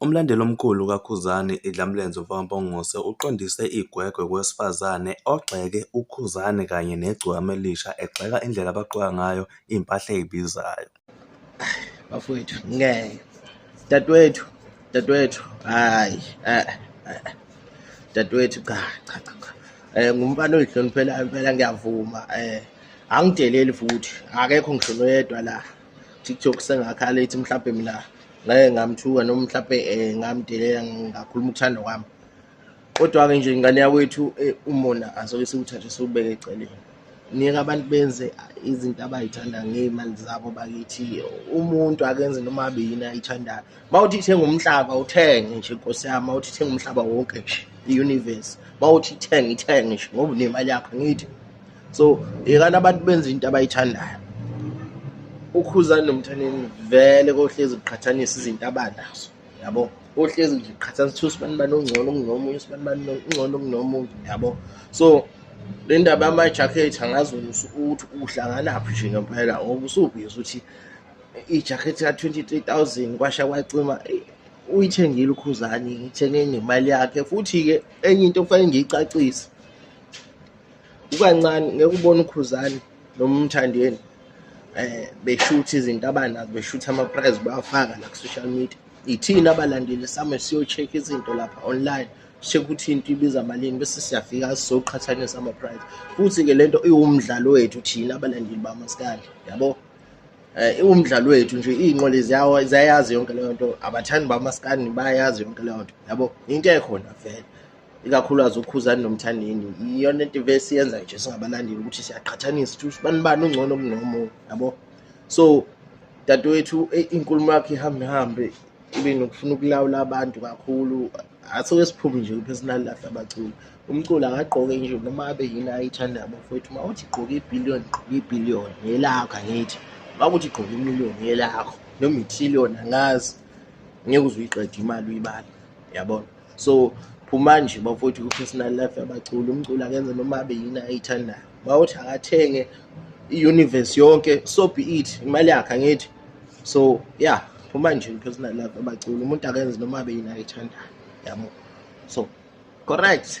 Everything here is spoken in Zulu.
Umlandeli omkhulu kaKhuzani, iDlamlenze umfaka Mpongose, uqondise igwegwe kowesifazane ogxeke uKhuzani kanye negcokama elisha egxeka indlela abagqoka ngayo impahla ezibizayo. Bafowethu ngeke. Dadewethu, dadewethu. Hayi. Eh. Dadewethu cha cha cha. cha. Eh ngumfana oyihloniphela impela ngiyavuma. Eh angideleli futhi. Akekho ngisho noyedwa la. TikTok sengakhala ethi mhlawumbe mina ngeke ngamthuka noma mhlawumbe eh, ngamdelela ngakhuluma ukuthanda kwami kodwa-ke nje ingane yakwethu eh, umona asoke siwuthathe siwubeke eceleni nika abantu benze izinto abayithanda ngey'mali zabo bakithi umuntu akenze noma abe yini ayithandayo uma uthi ithenga umhlaba uthenge nje nkosi yami uma uthi ithenga umhlaba wonke nje i-universe uma uthi ithenge ithenge nje ngoba unemali yakho ngithi so yekani abantu benza into abayithandayo ukhuzani nomthaneni vele kohlezi kuqhathanisa izinto abanazo yabo ohlezi nje qhathanisa ukuthi usibani bani ongcono kunomunye usibani bani ongcono kunomunye yabo so le ndaba yamajakhethi angazi wena ukuthi uhlanganaphi nje ngempela ngoba usubhizi ukuthi ijakhethi ka-twenty-three thousand kwasha kwacima uyithengile ukhuzani ngithenge ngemali yakhe futhi-ke enye into kufanele ngiyicacise kukancane ngeke ubone ukhuzane noma umthandeni eh beshutha izinto abanazo beshutha ama prize bafaka la ku social media ithina abalandeli same siyo check izinto lapha online check ukuthi into ibiza malini bese siyafika sizoqhathanisa ama prize futhi ke lento iwumdlalo wethu thina abalandeli bamaskali yabo eh iwumdlalo wethu nje izinqole ziyawa ziyayazi yonke leyo nto abathandi bamaskani bayayazi yonke leyo nto yabo into ekhona vele ikakhulukazi ukhuzani nomthandeni iyona into vese yenza nje singabalandeli ukuthi siyaqhathanisa ukuthi ubani bani ungcono kunomunye yabo so dadewethu eh, inkulumo yakhe ihambe hambe ibe nokufuna ukulawula abantu kakhulu asoke siphume nje kwi-personal life abaculi umculo akagqoke nje noma abe yini ayithandayo bafowethu uma uthi gqoke ibhiliyoni gqoke ibhiliyoni yelakho angithi uma kuthi gqoke imiliyoni yelakho noma ithiliyoni angazi ngeke uze uyiqede imali uyibale yabona so phuma nje bafowethu ku-personal life yabaculi umculi akenze noma abe yini ayithandayo mawuthi akathenge i-universe yonke so be it imali yakhe angithi so yeah phuma nje ku-personal life yabaculi umuntu akenze noma abe yini ayithandayo yabo so correct